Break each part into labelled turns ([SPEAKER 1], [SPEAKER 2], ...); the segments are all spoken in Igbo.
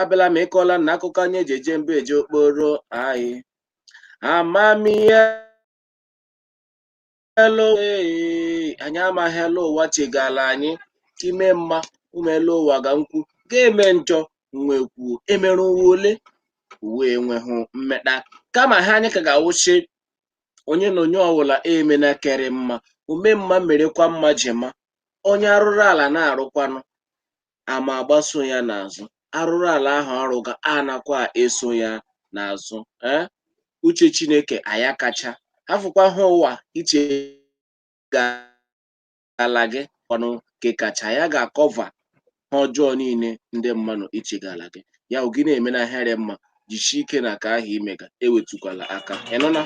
[SPEAKER 1] abịala m ịkọla na akụkọ anyị eji eje mba eje okporo anyị amamihe elu ee, anyị amaghị elu ụwa chegala anyị ime mma ụmụ elu ụwa ga nkwu ga-eme njọ nwe kwuo emere ụwa ole ụwa enweghị mmeta kama ha anyị ka ga-awụsị onye na onye ọbụla emena kere mma ome mma merekwa mma jema onye arụrụ ala na-arụkwanụ a ma agbaso ya n'azụ arụrụ ala ahụ ọ rụga anakwa eso ya n'azụ ee eh? uche chineke aya kacha afụkwa ha ụwa ichegala gị ọnụ nke kacha ya ga-akọva ha ọjọọ niile ndị mmadụ ichegala gị ya gị na-eme na he rị mma jishi ike na ke ahụ i mega ewetukwala aka ị nụna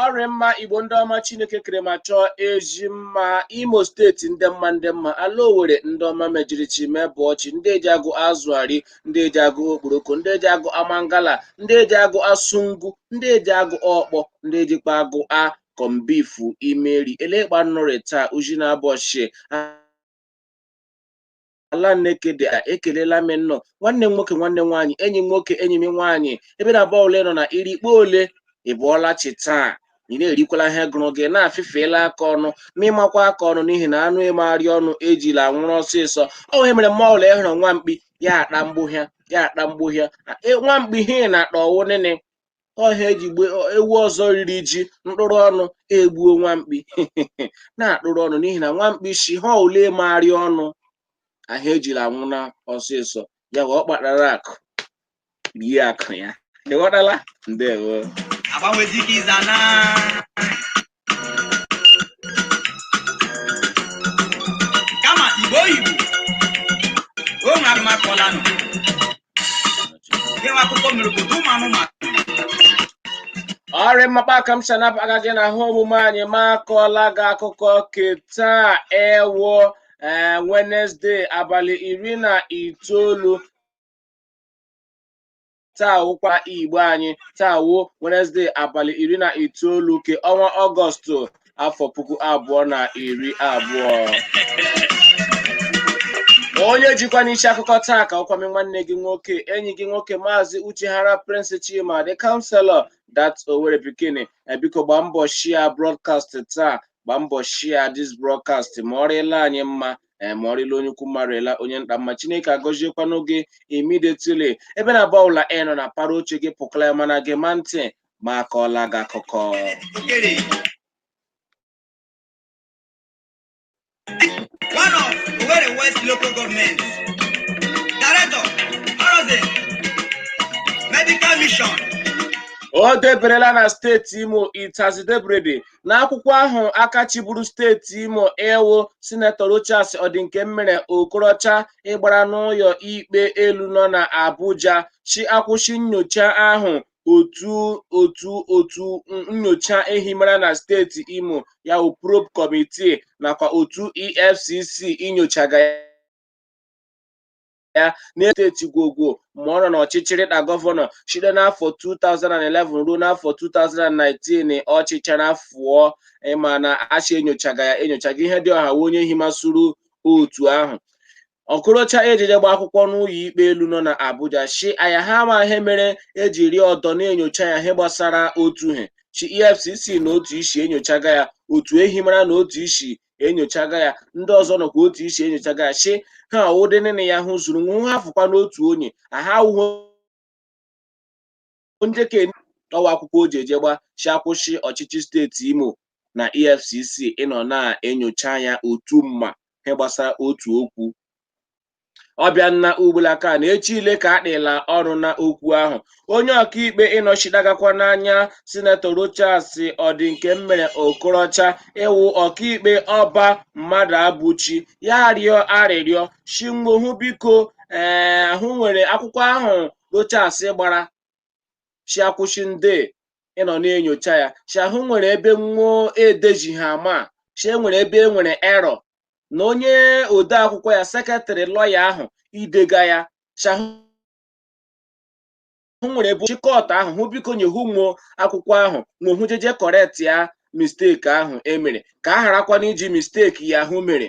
[SPEAKER 1] ọ rị mma igbo ndị ọma chineke kere ma chọọ ezi mma imo steeti ndị mma ndị mma ala owere ndị ọma mejirichi mebụ ọchị ndị eji agụ azụ ari ndị eji agụ okporoko ndị eji agụa mangala ndị eji agụa sụngụ ndị eji agụ ọkpọ ndị ejikwa agụa corned beef imeri elekpa nnụ rị taa uji na abọchị ala nekede ekelela m nnọọ nwanne m nwoke nwanne m nwaanyị enyi m nwoke enyi m nwaanyị ebe na ebe ọwụla nọ na iri ikpe ole ị bọọla chi taa ị na-erikwala ihe gụrụ gị na-afịfeela aka ọnụ ma ị makwa aka ọnụ n'ihi na anụ emegharị ọnụ ejila anwụrụ ọsịsọ ọ ihe mere mme ọwụla ị hụrụ nwa mkpi ya akpa mgbuhịa ya akpa mgbuhịa nwa mkpi ihe na-akpa ọ wụ nịnị ọ he eji gbe ewu ọzọ riri ji mkpụrụ ọnụ egbuo nwamkpi na-akpụrụ ọnụ n'ihi na nwamkpi si ha ole megharị ọnụ ahụ ejila anwụ na ọsịsọ ya wee ọ kpatara akụ rie akụ ya ị ghọtala ndewo agbanwe dike
[SPEAKER 2] ịza na kama igbo oyibo o nwere aga m akọlanụ gịwa akụkọ mere obodo ụmụ anụmanụ
[SPEAKER 1] ọ rị mma kpa a ka m shi anabata gị na he omume anyị m akọọla gị akụkọ ke taa wụ wenesde abalị iri na itoolu taa wụkwa igbo anyị taa wụ wenezdee abalị iri na itoolu ke ọnwa ọgọstụ afọ puku abụọ na iri abụọ onye jikwanị isi akụkọ taa ka wụkwa mị nwanne gị nwoke enyi gị nwoke maazị uchehara prince chima the counselor that owere pikin biko gbaa mbọ share broadcast taa gbaa mbọ share this broadcast ma ọ rịla anyị mma ee ma ọ rịla onye ukwu mma rịla onye nta mma chineke agọziekwanụ gị imidetili ebe na bọụla ị nọ na para oche gị pụkala ya mana gema ntị ma akọọla gị akụkọ one of Owerri West
[SPEAKER 2] local government, director, Horizon, medical mission, o
[SPEAKER 1] deberela na steeti imo itazi debrede n'akwụkwọ ahụ aka chịburu steeti imo ịwụ sinetọ rochas ọdịnkemmere okorocha ịgbara n'ụlọ ikpe elu nọ na abuja shi akwụshị nyocha ahụ otu otu otu nyocha ehimara na steeti imo ya bụ probe kọmitii nakwa otu efcc inyochaga ya ya na-eteti gwogwo ma ọ nọ n'ọchịchị rị na gọvanọ site n'afọ 2011 ruo n'afọ 2019 ọ chịchara fụọ ịma na achị enyochaga ya enyochaga ihe dị ọha onye himasuru otu ahụ okorocha ejije gba akwụkwọ n'ụlọ ikpe elu nọ na abuja shi aya ha ma ihe mere ejiri ọdọ na-enyocha ya ihe gbasara otu ihe shi efcc nọ otu isi enyochaga ya otu ehimara nọ otu isi enyochaga ya ndị ọzọ nọkwa otu isi enyochaga ya shi ha ụdị nne ya hụ zuru nwa ha fụkwa n'otu onye aha awụhụ onye ka ọwa akwụkwọ o ji je gba shi akwụshị ọchịchị steeti imo na efcc ịnọ na-enyocha ya otu mma ihe gbasara otu okwu ọbịa nna ugbulaka na echi ile ka akpịla ọrụ na okwu ahụ onye ọkaikpe ịnọchidagakwa n'anya sinetọ rochas ọdịnkemmere okorocha ịwụ ọkaikpe ọba mmadụabụchi ya rịọ arịrịọ shi nwo hụ biko ee ahụ nwere akwụkwọ ahụ rochas gbara shi akwụshị ndị ịnọ na-enyocha ya shi ahụ nwere ebe nwụọ edeziha ama shi enwere ebe e nwere erọ na onye ode akwụkwọ ya sekretarị lọya ahụ idega ya shi ahụ hụ nwere ebe shi kọt ahụ hụ biko nye hụ nwụọ akwụkwọ ahụ nwụọ hụ jeje kọrekt ya misteki ahụ emere ka a gharakwana iji misteki ya hụ mere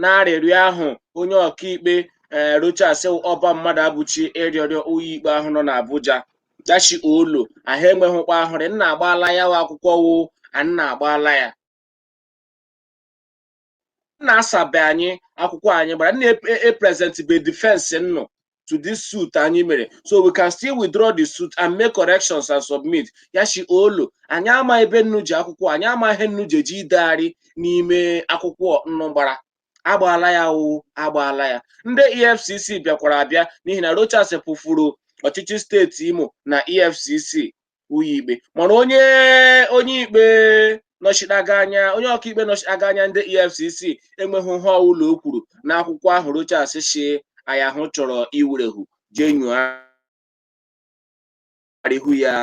[SPEAKER 1] n'arịrịọ ahụ onye ọkaikpe ee eh, Rochas Ọba Mmadụabụchi ịrịọrọ ụlọ ikpe ahụ nọ n'Abuja ya shi olo ahụ enweghịkwa ahụrị nnu agbaala ya wụ akwụkwọ wụ nnu agbaala ya nnu asabe anyị akwụkwọ anyị gbara nna eprezentị e, e be difensi nnụ to this suit anyị mere so we can still withdraw the suit and make corrections and submit ya shi olo anyị ama ebe nnu ji akwụkwọ anyị ama ihe nnu jeje idegharị n'ime akwụkwọ nnu gbara agbaala ya o agbaala ya ndị efcc bịakwara abịa n'ihi na rochas kpụfụrụ ọchịchị steeti imo na efcc ụlọ ikpe mana onye onye ikpe nọchiteaga anya onye ọkaikpe nọchiteaga anya ndị efcc enweghị ihe ọbụla o kwuru n'akwụkwọ ahụ rochas shi ya ahụ chọrọ iwerehu jee nyogharịhu ya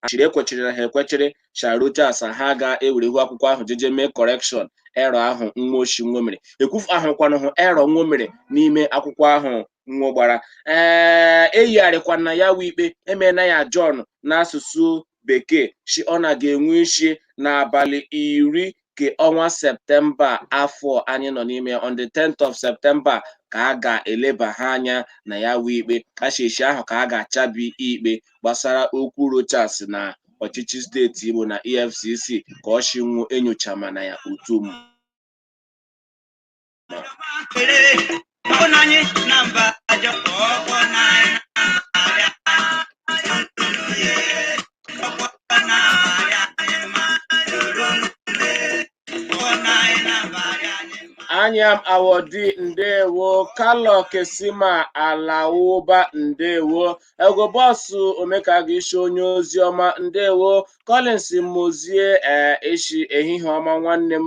[SPEAKER 1] achịrị ekwechiri na ha ekwechiri sha rochas ha ga-ewerehu akwụkwọ ahụ jeje mee correction error ahụ nwo shi nwo mere ekwufu ahụkwanụhụ error nwo mere n'ime akwụkwọ ahụ nwo gbara ee eyigharịkwana ya wụ ikpe emeena ya John n'asụsụ bekee shi ọ na ga-enwe isi n'abalị iri nke ọnwa septemba afọ anyị nọ n'ime on the 10th of September ka a ga-eleba ha anya na ya wụ ikpe ashishi ahụ ka a ga-achabi ikpe gbasara okwu Rochas na ọchịchị steeti Imo na EFCC ka o shi wụ enyochamana ya otu m Anyam Awodi ndewo Kalọ Kesima Alawuba ndewo Ego bọsụ Omekaga Ishi onye ozi ọma ndewo Collins Mozie ee ishi ehihie ọma nwanne m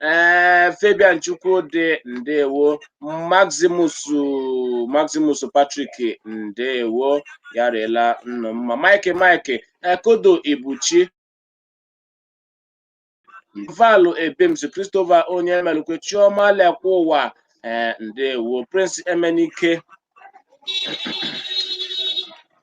[SPEAKER 1] ee eh, Fabian Chukwudi ndewo Maximus Patrick ndewo ya rịla nnụ mma Mike Mike Ekodo eh, Ibuchi Valu Ebems Christopher Onyemelukwe Chioma Lekwauwa ee eh, ndewo Prince Emenike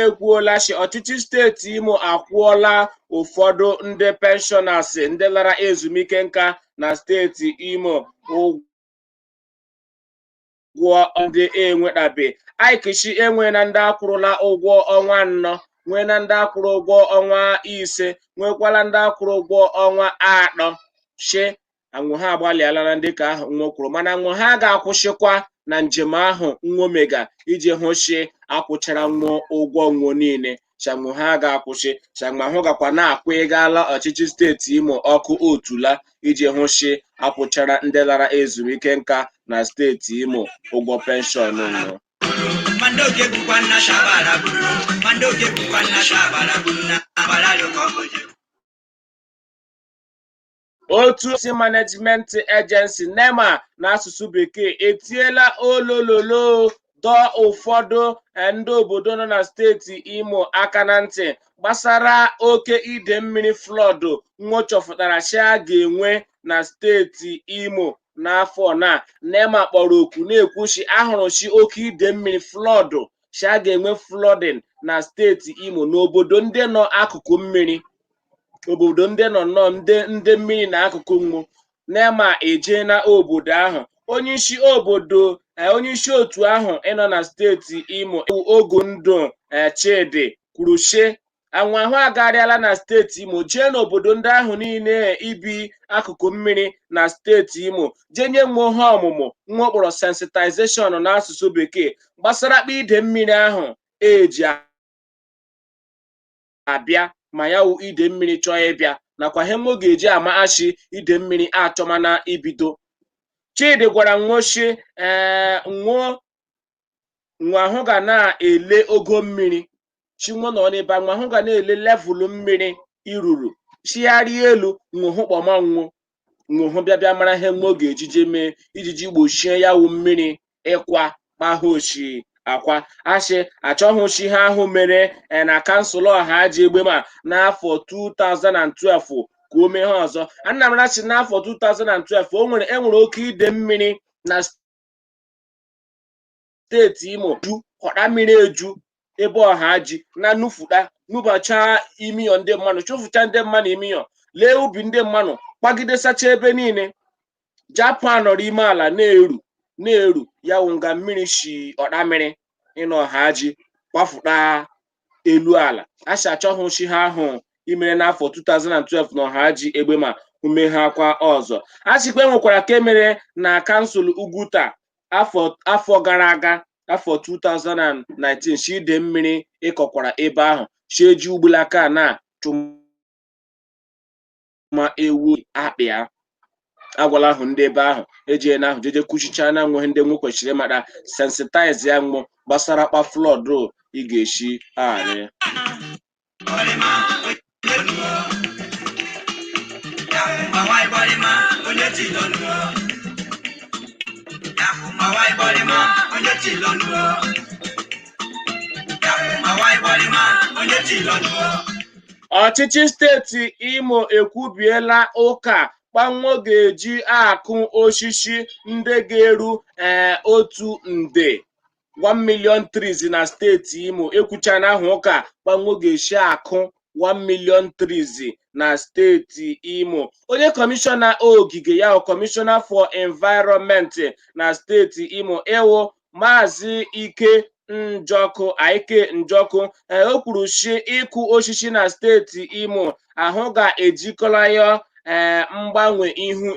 [SPEAKER 1] ekwuola shi ọchịchị steeti Imo akwụọla ụfọdụ ndị pensioners ndị lara ezumike nka na steeti Imo ụgwọ ndị enwetabe ike shi enwe na ndị akwụrụla ụgwọ ọnwa anọ nwee na ndị akwụrụ ụgwọ ọnwa ise nwekwala ndị akwụrụ ụgwọ ọnwa atọ shi anwụ ha agbalịala na ndị ka ahụ nwo kwuru mana anwụ ha ga-akwụsịkwa na njem ahụ nwo mega iji hụ si akwụchara nwo ụgwọ nwo niile shi anwụ ha ga-akwụsị shi anwa hụ gakwa na-akwụ ịgala ọchịchị steeti imo ọkụ otula iji hụ si akwụchara ndị lara ezumike nka na steeti imo ụgwọ penshọn nwo otu si management agency nema n'asụsụ bekee etiela olololo dọọ ụfọdụ eh, ndị obodo nọ na steeti imo aka na ntị gbasara oke ide mmiri flood nwo chọfụtara shi a ga-enwe na steeti imo n'afọ na nema kpọrọ oku na-ekwu shi a hụrụ shi oke ide mmiri flood shi a ga-enwe flooding na steeti imo n'obodo ndị nọ akụkụ mmiri obodo ndị nọ nnọọ ndị ndị mmiri nọ akụkụ nwo nema eje na obodo ahụ onye isi obodo eh, onye isi otu ahụ ịnọ na steeti imo bụ ogundu eh, chidi kwuru shi nwo ahụ agarịala na steeti imo jee n'obodo ndị ahụ niile ibi akụkụ mmiri na steeti imo jee nye nwo ihe ọmụmụ nwo kpọrọ sensitization n'asụsụ bekee gbasara kpa ide mmiri ahụ eji abịa ma ya wụ ide mmiri chọọ ịbịa nakwa ihe nwo ga-eji ama shi ide mmiri achọmana ibido chidi gwara nwo shi ee nwo nwo ahụ ga na-ele ogo mmiri shi nwo nọ n'ebe nwo ahụ ga na-ele level mmiri iruru chigharịa elu nwo ahụ kpọma nwo nwo ahụ bịa bịa mara ihe nwo ga-eji jee mee ijiji gbochie ya wụ mmiri ịkwa kpa ahụ o shi akwa a shi a chọghị shi ihe ahụ mere na kansụl ohaji egbema n'afọ 2012 ka o mee ha ọzọ anyị mara shi n'afọ 2012 o nwere enwere oke ide mmiri na steeti imo ju otamiri eju ebe ohaji na nufuta nubacha ime ụyọ ndị mmanụ chụfụcha ndị mmanụ ime ụyọ lee ubi ndị mmanụ kwagidesacha ebe niile japụ nọrọ ime ala na-eru na-eru ya wụ nga mmiri si otamiri ịnọ ohaji kwafuta elu ala a sị a chọghị shi ihe ahụ imere n'afọ 2012 na ohaji egbema o mee ha kwa ọzọ a sịkwa e nwekwara ka e mere na kansụl ugwuta afọ afọ gara aga afọ 2019 shi ide mmiri ịkọkwara ebe ahụ shi e ji ugbulaka na chụma ewu akpị ya agwala ahụ ndị ebe ahụ eji na ahụ jeje kwuchicha na nweghị ndị nwo kwesịrị ịmara sensitize ya nwo gbasara kpa flood ị ga-esi arị ọchịchị steeti imo ekwubiela ụka kpa nwo ga-eji akụ osisi ndị ga-eru ee otu nde 1 million trees na steeti Imo ekwuchana ahụ ụka kpa nwo ga-esi akụ 1 million trees na steeti Imo onye kọmishọna ogige ya wụ kọmishọna for environment na steeti Imo ịwụ maazị Ike Njọkụ Ike Njọkụ eh, o kwuru sị ịkụ osisi na steeti Imo ahụ ga-ejikọla ya eh, mgbanwe ihu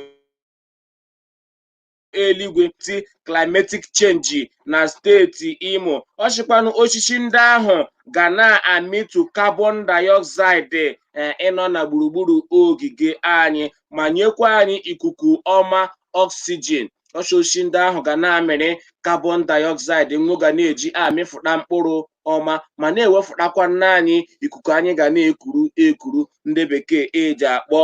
[SPEAKER 1] eluigwe ti climatic change na steeti Imo ọ sịkwanụ osisi ndị ahụ ga na-amịtu carbon dioxide eh, ịnọ na gburugburu ogige anyị ma nyekwa anyị ikuku ọma oxygen ọ sị osisi ndị ahụ ga na-amịrị carbon dioxide nwo ga na-eji amịfụta mkpụrụ ọma ma na-ewefụtakwana anyị ikuku anyị ga na-ekuru ekuru ndị bekee eji akpọ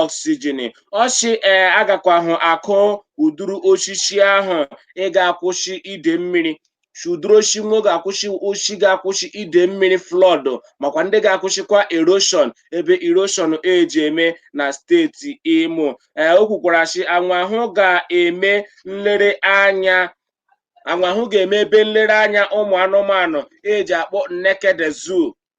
[SPEAKER 1] oxygen ọ sị ee a gakwahụ akụ ụdụrụ osisi ahụ ị ga-akwụsị ide mmiri sị ụdụrụ osi nwo ga-akwụsị osi ga-akwụsị ide mmiri flood makwa ndị ga-akwụsịkwa erosion ebe erosion eji eme na steeti imo ee o kwukwara sị anwahụ ga-eme nlere anya anwahụ ga-eme ebe nlere anya ụmụ anụmanụ eji akpọ Nekede zoo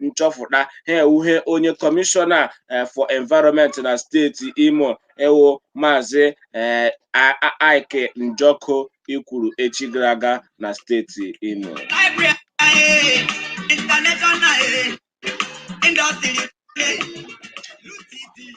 [SPEAKER 1] nchọpụta ha ewuhe onye kọmishọna eh, for environment na steeti imo ewo maazị eh, A- A- aike njọkụ ikwuru echi gara aga na steeti imo Library, eh, international, eh, industry, eh, UTD.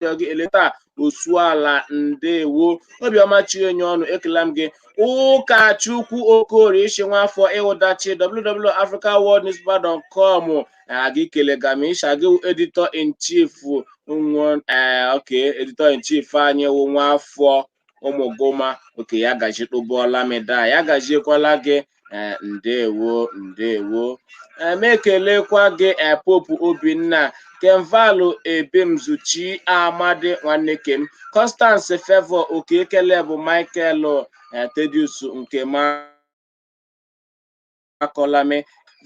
[SPEAKER 1] ya gị eleta osuala ndewo obiọma chienye ọnụ ekela m gị ụkachukwu okorie isi nwafọ ịwụdachi www.africaworldnewspaper.com a gị kelega m ị sị a gị wụ editor in chief ee okay editor in chief anyị wụ nwafọ ụmụgụma okay ya gaji kpụbụọla m daa ya gajiekwala gị ee ndewo ndewo ee m ekelekwa gị ee pope obinna kenvalụ ebemzuchi amadi nwanne ke m constance favour oke ekele bụ michael ee thaddeus nkema Akọlam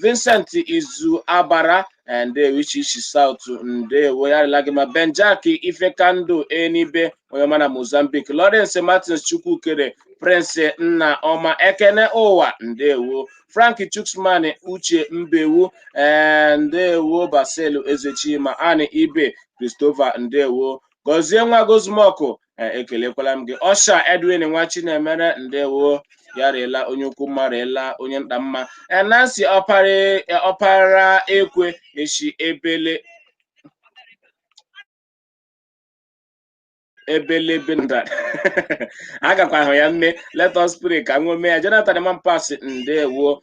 [SPEAKER 1] Vincent Izu Abara eh, ndewo Ichie isi South ndewo ya rịla gị mma Benjak Ifekandụ Enibe onye ọma na Mozambique Lawrence Martins Chukwukere Prince Nna Ọma Ekene Ụwa ndewo Frank Chuksman Uche Mbewu eh, ndewo Basil Ezechima Ani Ibe Christopher ndewo Gọzienwa Gozumọkụ ee ekelekwala m gị ọsha edwin nwa chinemere ndewo ya rịla onye ukwu mma rịla onye nta mma ee nancy ọpara eh, ọpara ekwe eshi ebele ebelebe nda agakwa ahụ ya nne let us pray ka nwo mee ya jonathan mampas ndewo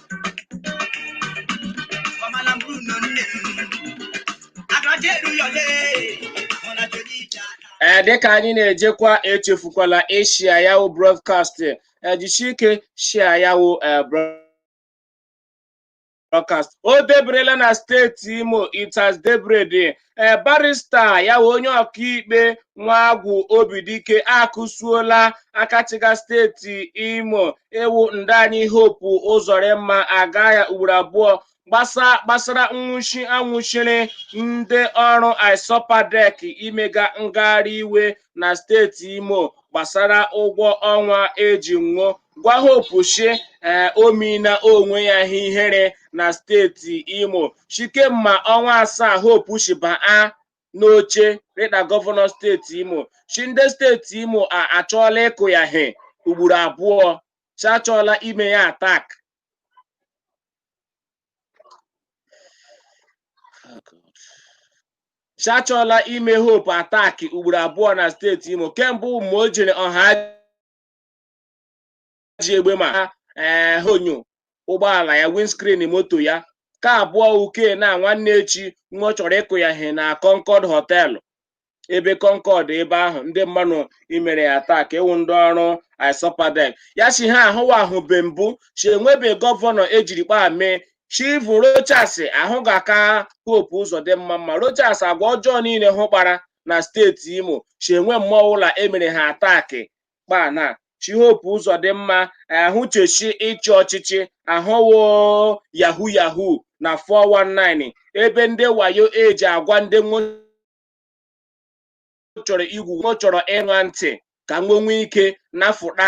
[SPEAKER 2] Ọmala mbụ nọ nne m. Agaje eru ya ole. Ọmala jodi ije aka. ee dịka anyị
[SPEAKER 1] na-ejekwa echefukwala ịshia ya wụ broadcast ejishi ike shia ya wụ ee, broadcast o deberela na steeti imo it has debred ee barista ya wụ onye ọkaikpe nwagwu obidike akụsuola aka chịga steeti imo ịwụ ndaa anyị hope ụzọrịmma aga ya ugboro abụọ gbasa gbasara nwụchi anwụchiri ndị ọrụ isopadec imega ngagharị iwe na steeti imo gbasara ụgwọ ọnwa eji nwo gwa hope shi ee o meela onwe ya ihe ihere na steeti imo shi kemma ọnwa asaa hope shi baa n'oche rịda gọvanọ steeti imo shi ndị steeti imo achọọla ịkụ ya he ugboro abụọ si achọọla ime ya attack si achọọla ime hope attack ugboro abụọ na steeti imo ke mbụ wụ o jere ọha ji egbema ha ee eh, onyo ụgbọala ya windscreen moto ya ke abụọ wụ ke na nwanne echi nwo chọrọ ịkụ ya ihe na Concord hotel ebe Concord ebe ahụ ndị mmanụ imere ya attack ịwụ ndị ọrụ isopadec ya si ha ahụwa ahụ be mbụ si enwebe gọvanọ ejiri kpaa mee chivu rochas ahụ ga-aka hope ụzọdịmma mma rochas agwa ọjọọ niile hụ kpara na steeti imo si enwe mme ọwụla emere ha attack kpaa na chi hope ụzọdịmma ahụ cheshi ịchị ọchịchị ahụ wụ yahoo yahoo na 419 ebe ndị wayo eji agwa ndị nwo chọrọ igwu nwo chọrọ ịṅa ntị ka nwo nwee ike nafụta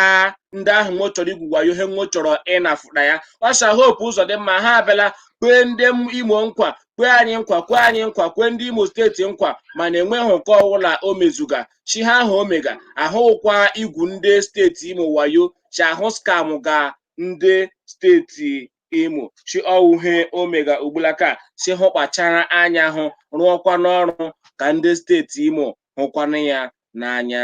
[SPEAKER 1] ndị ahụ nwo chọrọ igwu wayo he nwo chọrọ ịnafụta ya ọsha hope ụzọdịmma ha abịala kwee ndị imo nkwa kwee anyị nkwa kwee anyị nkwa kwee ndị imo steeti nkwa mana enweghị nke ọbụla o mezuga chi ha ahụ o mega ahụ wụkwa igwu ndị steeti imo wayo chi ahụ scam ga ndị steeti imo chi ọ wụ he o mega ugbulaka si hụ kpachara anya hụ rụọkwa n'ọrụ ka ndị steeti imo hụkwanụ ya n'anya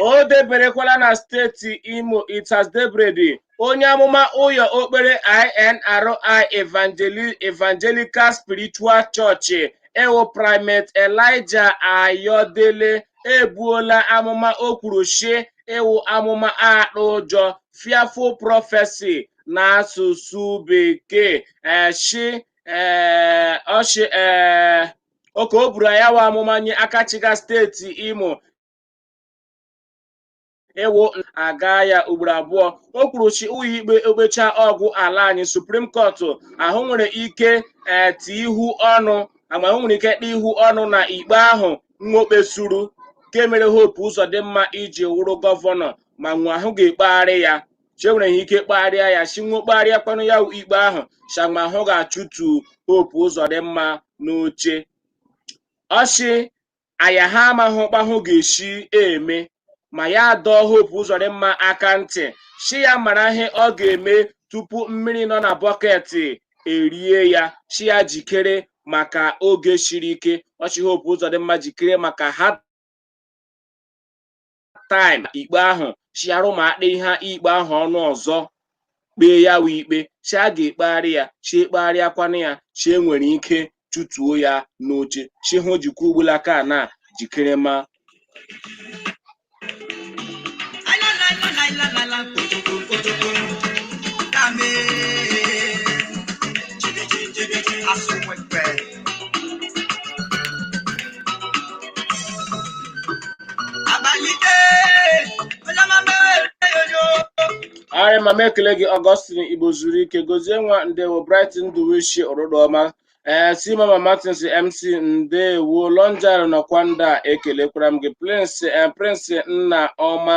[SPEAKER 1] o deberekwala na steeti imo it has debredi onye amụma ụyọ okpere inri evangelical spiritual church ịwụ primate elijah ayodele ebuola amụma o kwuru shi ịwụ amụma akpa ụjọ fearful prophecy n'asụsụ bekee shi ee ọ shị ee oke o buru ya wa amụma nye aka chịga steeti imo ịwụ aga ya ugboro abụọ o kwuru shi ụyọ ikpe okpechaa ọgwụ ala anyị suprim kọtụ ahụ nwere ike ee ti ihu ọnụ agba ahụ nwere ike kpee ihu ọnụ na ikpe ahụ nwokpe suru nke mere hope ụzọdịmma iji wụrụ gọvanọ ma nwa ahụ ga-ekpegharị ya shi e nwere ha ike kpegharịa ya shi nwe kpegharịa kwanụ ya wụ ikpe ahụ shama hụ ga-achụtu hope ụzọdịmma n'oche ọ shị aya ha amaghị kpa hụ ga-eshi eme ma ya dọọ hope ụzọdịmma aka ntị shi ya mara ihe ọ ga-eme tupu mmiri nọ na bọket erie ya shi ya jikere maka oge shiri ike ọ shị hope ụzọdịmma jikere maka hard time ikpe ahụ chiara ụmụakpa ihe ikpe ahụ ọnụ ọzọ kpee ya wụ ikpe shi a ga-ekpegharị ya shi ekpegharịakwana ya shi e nwere ike chụtuo ya n'oche shi hụ jikwa ugbulaka na jikere ma arị ma m ekele gị ọgọstin igbo zuru ike gozie nwa ndewo bright ndụwishi ọrụdụọma ee si mama martins mc ndewo lonjar nọkwa ndị a ekelekwara m gị prince eh, prince nna ọma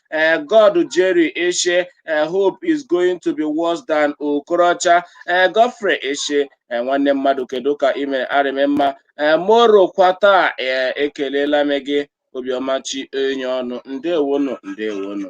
[SPEAKER 1] uh, God Jerry Eshe, uh, hope is going to be worse than Okorocha, uh, Godfrey Eshe, uh, nwanne mmadụ kedu ka ị mere arị m mma uh, moro kwata uh, ekelela m gị obiọmachi enyi ọnụ ndewo nụ ndewo nụ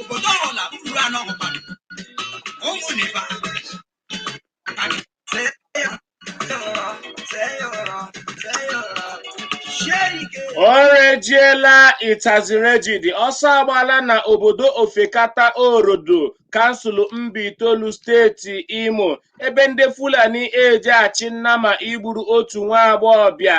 [SPEAKER 1] obodo ọla uru anọ hụkwara ụmụ neba o rejiela it has rejidi ọsọ agbala na obodo ofekata orodo kansụl mbaitolu steeti imo ebe ndị fulani eji achị nnama igburu otu nwa agbọghọbịa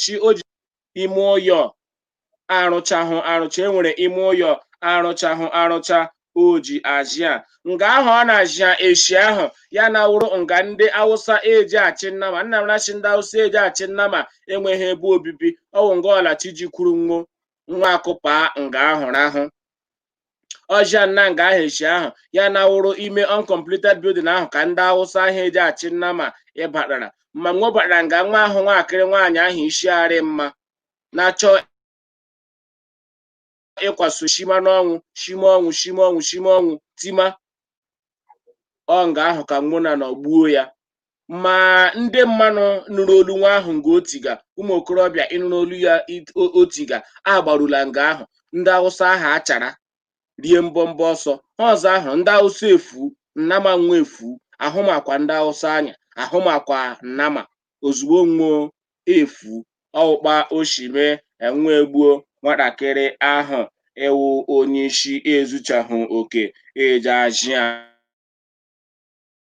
[SPEAKER 1] shi o ji ime ụyọ arụchahụ arụcha enwere ime ụyọ arụchahụ arụcha o ji azịa nga ahụ ọ na-azịa eshi ahụ ya na wụrụ nga ndị awụsa eji achị nnama nna mara shi ndị awụsa eji achị nnama enweghị ebe obibi ọwụ nga ọla chi jikwuru nwo nwa akụpa nga ahụ rahụ ọzịa nna nga ahụ echi ahụ ya na wụrụ ime uncompleted building ahụ ka ndị awụsa ahụ eji achị nnama ịbatara ma nwo baara nga nwa ahụ nwaakịrị nwaanyị ahụ isi arị mma na-achọ ịkwaso shima n'ọnwụ shima ọnwụ shima ọnwụ shima ọnwụ tima ọ nga ahụ ka nwo na nọ gbuo ya ma ndị mmanụ nụrụ olu nwa ahụ nga o tiga ụmụ okorobịa ịnụrụ olu ya it- o- o tiga agbarula nga ahụ ndị awụsa ahụ achara rie mbọmbọ ọsọ ọzọ ahụ ndị awụsa efu nnama nwa efu ahụmakwa ndị awụsa anya ahụmakwa nnama ozugbo nwo efu ọ wụ kpa o shi mee nwo egbuo nwatakịrị ahụ ịwụ onye isi ezuchahụ oke eji azịa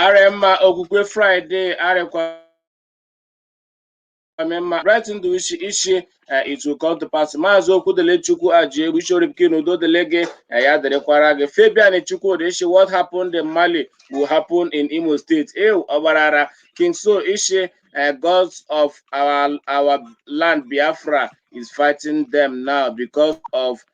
[SPEAKER 1] arị mma okwukwe friday arịkwa mma bright ndụ ishi eh, it will come to pass maazị okwudilichukwu ajiegbu ishoripkin udo dịlị gị eh, ya dịrịkwara gị fabian chukwudi ishi what happened in mali will happen in imo state eh obarara king so ishi eh, gods of our, our land biafra is fighting them now because of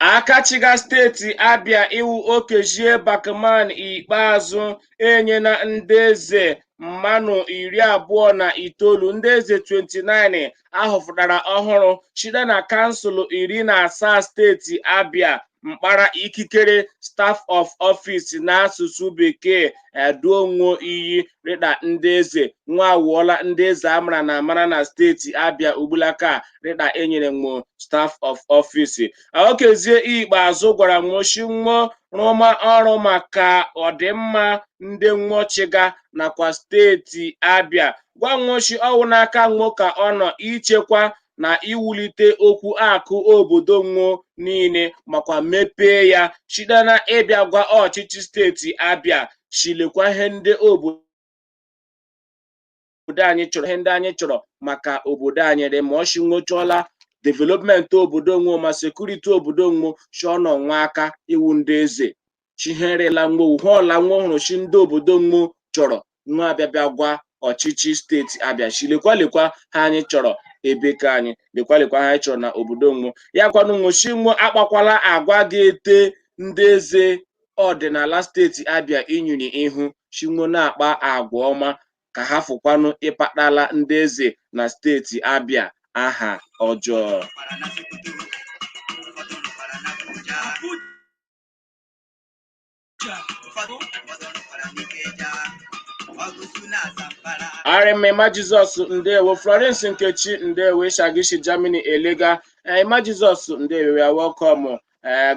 [SPEAKER 1] Aka chịga steeti Abia ịwụ Okezie Bakman Ikpeazụ enyena ndị eze mmanụ iri abụọ na itoolu ndị eze 29 ahọpụtara ọhụrụ shite na kansụl iri na asaa steeti Abia mkpara ikikere staff of office n'asụsụ bekee eduo nwo iyi rịda ndị eze nwa awụọla ndị eze amara na amara na steeti Abia ugbulaka rịda enyere nwo staff of office Okezie Ikpeazụ gwara nwo shi nwo rụma ọrụ maka ọdịmma ndị nwo chịga nakwa steeti Abia gwa nwo shi ọ wụ n'aka nwo ka ọ nọ ichekwa na iwulite okwu akụ obodo nwo niile makwa mepee ya shite na ịbịa gwa ọchịchị steeti Abia shi lekwa ihe ndị obodo obodo anyị chọrọ ihe ndị anyị chọrọ maka obodo anyị dị mma ọ shi nwo chọọla development obodo nwo ma sekuriti obodo nwo chọọ nọ nwa aka ịwụ ndị eze shi ihe ọla nwo ihe ọla nwo hụrụ shi ndị obodo nwo chọrọ nwo abịa bịa gwa ọchịchị steeti Abia shi lekwa lekwa ha anyị chọrọ ebe ka anyị lekwa lekwa ha anyị chọrọ na obodo nwo ya kwanụ nwo shi nwo akpakwala agwa ga-ete ndị eze ọdịnala steeti Abia inyi n'ihu shi nwo na-akpa agwa ọma ka hafụkwanụ ịkpatala ndị eze na steeti Abia aha ọjọọ ọ rị mma Emma jizọs ndewo florence nkechi ndewo ị shị gị shi germany elega Emma jizọs ndewo you are welcome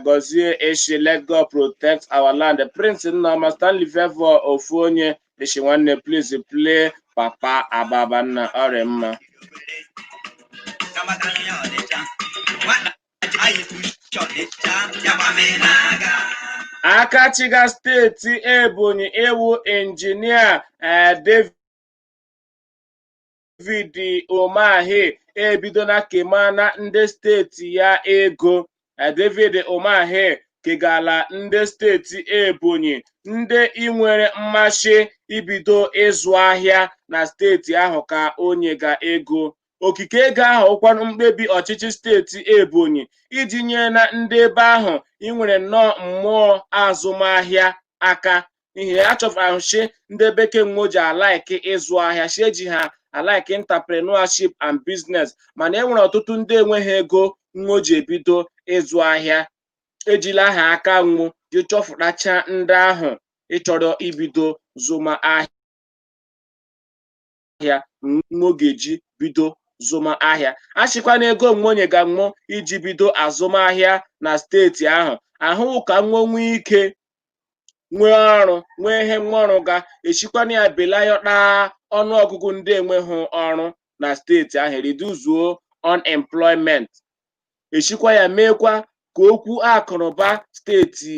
[SPEAKER 1] gọzie ị shị let god protect our land prince nnaọma stanley favour ofu onye ị shị nwanne please play papa ababa nna ọ rị mma aka chịga steeti ebonyi ịwụ injinia eh, david David Umahi ebidola kemana ndị steeti ya ego David Umahi kegala ndị steeti Ebonyi ndị inwere mmasị ibido ịzụ ahịa na steeti ahụ ka o nyega ego okike ego ahụ wụkwanụ mkpebi ọchịchị steeti Ebonyi iji nyena ndị ebe ahụ inwere nnọọ mmụọ azụmahịa aka n'ihi ya achọfahụ shi ndị ebe ke nwo ji alaiki ịzụ ahịa shi eji ha alaiki entrepreneurship and business mana e nwere ọtụtụ ndị enweghị ego nwo ji ebido ịzụ ahịa ejila ha aka nwo ji chọfụtacha ndị ahụ ịchọrọ ibido zụma ahịa ahịa nwo ga-eji bido zụma ahịa a shịkwa na ego nwo nyega nwo iji bido azụmahịa na steeti ahụ ahụ ka nwo nwee ike nwee ọrụ nwee ihe nwo rụga eshikwa na ya belayọta ọnụ ọgụgụ ndị enweghị ọrụ na steeti ahụ reduzuo unemployment eshikwa ya meekwa ka okwu akụnụba steeti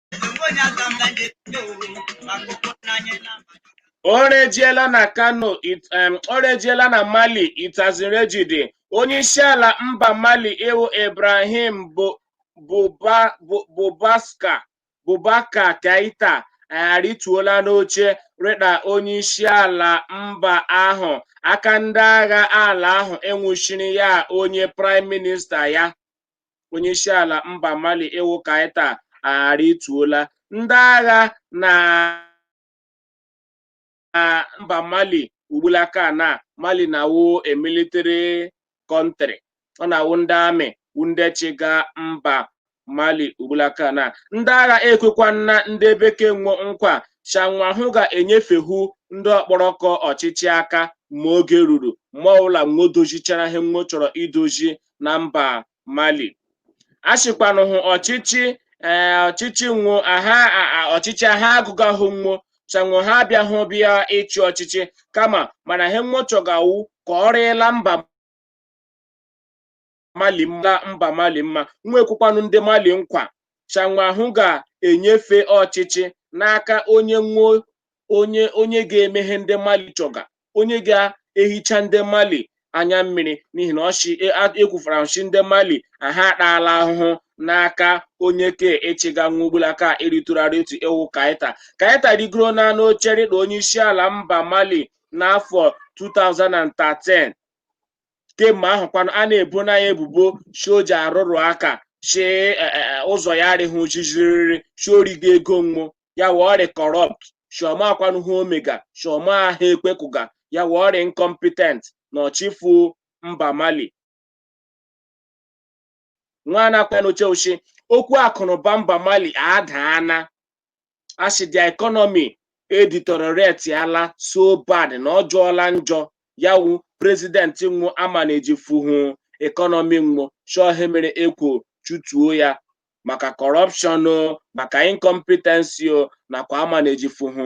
[SPEAKER 2] o
[SPEAKER 1] rejiela na kano it- em, o rejiela na mali itazirejide onye isi ala mba mali ịwụ ibrahim Bu- Buba- Bu- bubaska Boubacar Keita arịtuola n'oche rịda onye isi ala mba ahụ aka ndị agha ala ahụ enwuchiri ya onye praịm minista ya onyeisiala mba Mali ewu Keita arịtuola ndị agha na mba Mali ugbulaka na Mali na-awụ a military country ọ na-awụ ndị amị wụ ndị chịga mba Mali ugbulaka na ndị agha ekwekwana ndị ebe ke nwo nkwa shanwa hụ ga-enyefehu ndị ọkpọrọkọ ọchịchị aka ma oge ruru ma ọbụla nwo dozichara ihe nwo chọrọ idozi na mba mali a sịkwanụ hụ ọchịchị ee ọchịchị nwo aha a- a- ọchịchị ha agụga hụ nwo sanwo ha abịa hụ bịa ịchị ọchịchị kama mana ihe nwo chọga wu ka ọ rịla mba mali mma nwo ekwekwanụ ndị mali nkwa sanwo ahụ ga-enyefe ọchịchị n'aka onye nwo onye onye ga-eme ihe ndị mali chọga onye ga-ehicha ndị mali anya mmiri n'ihi na ọ shị ekwufara ọ shị ndị mali ha ataala ahụhụ n'aka onye ke ịchịga nwo ugbulaka eritụrarị otu ewu Keita Keita rigoro na n'oche rịda onye isi ala mba mali n'afọ 2013 kemgbe ahụ kwanụ a na-ebo na ya ebubo si o ji arụrụ aka si e, e, e, ụzọ ya arịghị ojijiriri si o riga ego nwo ya wu ọ rị corrupt si ọ maakwanụ ihe o mega si ọ maa ihe ekwekụga ya wu ọ rị incompetent na ọ chịfu mba mali nwa na-akwa n'oche ochi okwu akụnụba mba mali adaana a sị the economy edeteriorate-ala so bad na ọ jọọla njọ ya wu president nwo amana ejifuhu economy nwo shi ọọ ihe mere e kwo chụtuo ya maka corruption o maka incompetency o nakwa amana ejifuhu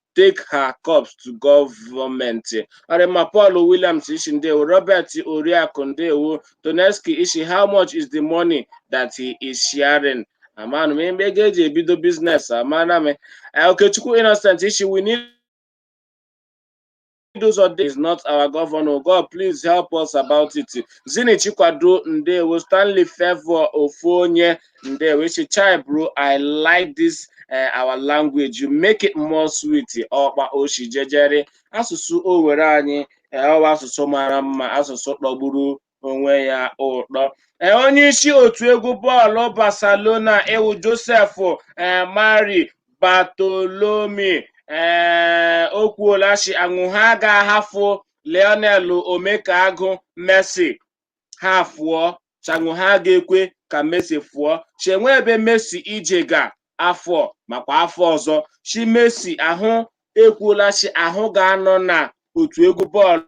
[SPEAKER 1] take her corpse to government Orima Paul Williams i shi ndewo Robert Oriakụ ndewo Toneski i shi how much is the money that he is sharing amanụ m ebe ego eji ebido business amana m Okechukwu Innocent i shi we need Chidozo is not our governor. God, please help us about it. Zini Chikwado Ndewo, Stanley Favour Ofonye Ndewo. I shi chai bro, I like this uh, our language. You make it more sweet. Ọ kpa o shi jejere asụsụ Owere anyị ọ wụ asụsụ mara mma asụsụ tọgburu onwe ya ụtọ ee onye isi otu egwu bọọlụ Barcelona ewu Josef ee Mari Bartolome ee o kwuola si anwo ha ga-ahafụ Lionel Omekaagụ Messi ha fụọ si anwo ha ga-ekwe ka Messi fụọ si enwe ebe Messi ejega afọ a makwa afọ ọzọ si Messi ahụ ekwuola si ahụ ga-anọ na otu egwu bọọlụ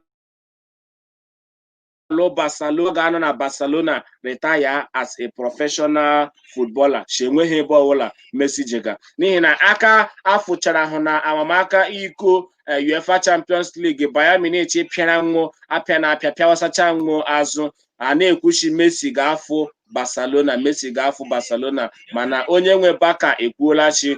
[SPEAKER 1] Paulo Barcelo ga-anọ na Barcelona retire as a professional footballer si enweghị ebe ọbụla Messi jega n'ihi na aka afụchara hụ na amamaka iko eh, UEFA Champions League Bayern Munich pịara nwụ apịa na apịa pịawasacha nwụ azụ a na-ekwu si Messi ga-afụ Barcelona Messi ga-afụ Barcelona mana onye nwe Barca ekwuola si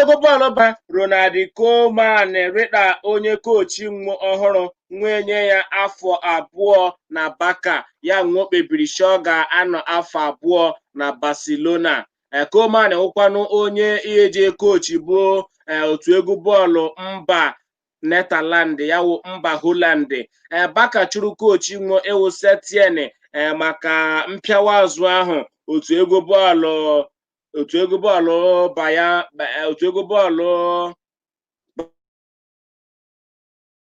[SPEAKER 1] egwu bọọlụ ba Ronald Koeman rịda onye kochi nwa ọhụrụ nwa enye ya afọ abụọ na Barca ya wụ ọ kpebiri si ọ ga-anọ afọ abụọ na Barcelona Eh, Koeman wụkwanụ onye eje kochibu eh, otu egwu bọọlụ mba Netherland ya wụ mba Holland Eh, Barca chụrụ kochi nwa ịwụ Setien eh, maka mpịawa azụ ahụ otu egwu bọọlụ otu egwu bọọlụ baya eh, otu egwu bọọlụ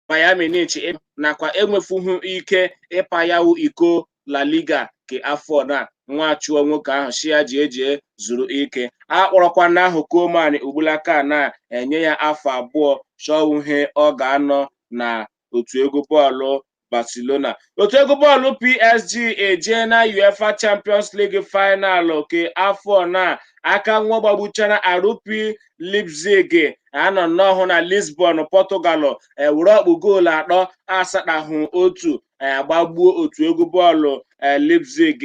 [SPEAKER 1] Bayern Munich nakwa enwefughị ike ịpayawu iko La Liga ke afọ na nwa achụọ nwoke ahụ si ya jie jie zuru ike a kpọrọkwa na ahụ Koeman ugbulaka na-enye ya afọ abụọ si ọ wụ ihe ọ ga-anọ na otu egwu bọọlụ Barcelona otu egwu bọọlụ PSG ejena UEFA Champions League final ke afọ na aka nwa gbagbuchara RB Leipzig anọ nnọọ na Lisbon Portugal were ọkpụ goolu atọ asatahụ otu agbagbuo otu egwu bọọlụ Leipzig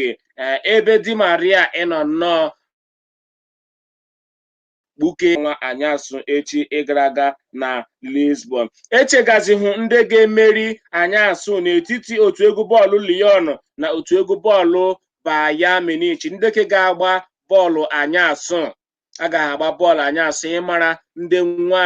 [SPEAKER 1] ebe Di Maria ịnọ nnọọ gbuke nwa anyasụ echi ịgara aga na Lisbon echegazi hụ ndị ga-emeri anyasụ n'etiti otu egwu bọọlụ Lyon na otu egwu bọọlụ Bayern Munich ndị ke ga-agba bọọlụ anyasụ a ga-agba bọọlụ anyasụ ịmara ndị nwa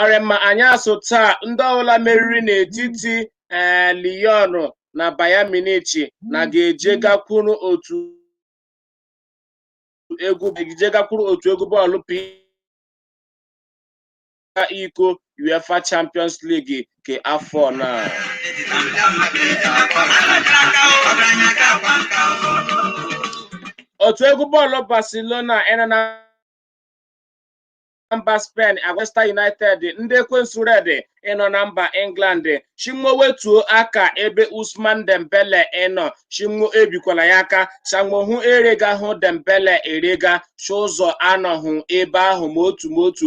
[SPEAKER 1] arịma anyasụ taa ndị ọbụla meriri n'etiti ee eh, Lyon na Bayern Munich na ga-eje gakwuru otu egwu bọọlụ iko UEFA Champions League nke afọ na otu egwu bọọlụ Barcelona ịnọ na mba Spen Manchester United ndị ekwensu red ịnọ na mba England shi nwo wetuo aka ebe Ousmane Dembele ịnọ shi nwo ebikwala ya aka shi nwo hụ erega hụ Dembele erega chụ ụzọ anọhụ ebe ahụ ma otu ma otu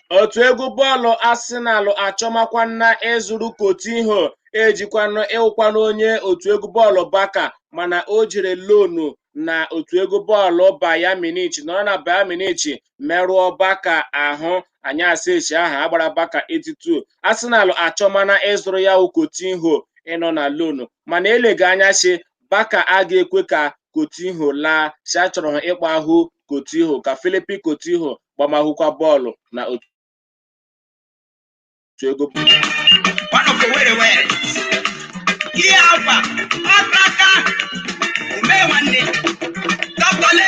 [SPEAKER 1] otu egwu bọọlụ Arsenal achọmakwana ịzụrụ Coutinho ejikwanụ ịwụkwanụ onye otu egwu bọọlụ Barca mana o jere lonu na otu egwu bọọlụ Bayern Munich nọrọ na Bayern Munich merụọ Barca ahụ anyasị echi ahụ agbara Barca 8-2 Arsenal achọmana ịzụrụ ya wụ Coutinho ịnọ na lonu mana elega anya si Barca a ga-ekwe ka Coutinho laa si achọrọ ha ịkpọ ahụ Coutinho ka Philippe Coutinho gbamahụkwa bọọlụ na otu
[SPEAKER 2] egwu ihe agwa ọkaka ume nwanne dọkọle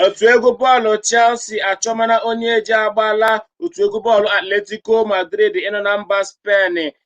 [SPEAKER 1] otu egwu bọọlụ Chelsea achọmana onye eji agbala otu egwu bọọlụ Atletico Madrid ịnọ na mba Spen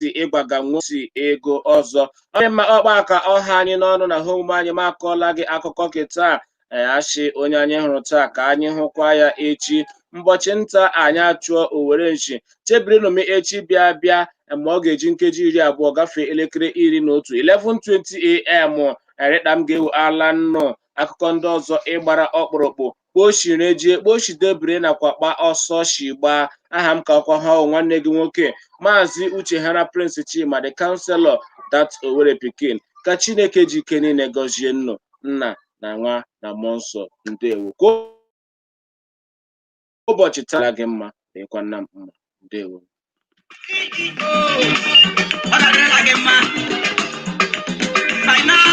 [SPEAKER 1] si ịgbaga nwosi ego ọzọ ọ dị mma ọ kpa a ka ọ ha anyị n'ọnụ na ihe omume anyị ma akọọla gị akụkọ nke taa ee, a shị onye anyị hụrụ taa ka anyị hụkwa ya echi mbọchị nta anyị achụọ owere nchi chebirinụ m echi bịa bịa ma ọ ga-eji nkeji iri abụọ gafee elekere iri na otu 11:20 am erịkpa m ga-ewu ala nnụ akụkọ ndị ọzọ ịgbara ọkpụrụkpụ kpa o shiri jie kpa o shi debere nakwa kpa ọsọ shi gbaa aha m ka ọkwa ha ọ wụ nwanne gị nwoke maazị Uchehara Prince Chima the counselor that Owere pikin ka chineke ji ike niile gọzie nnụ nna na nwa na mmụọ nsọ ndewo ka ụbọchị tara gị mma dịkwa nna m mma ndewo Ọ ga-adịrịla gị mma.
[SPEAKER 2] Financial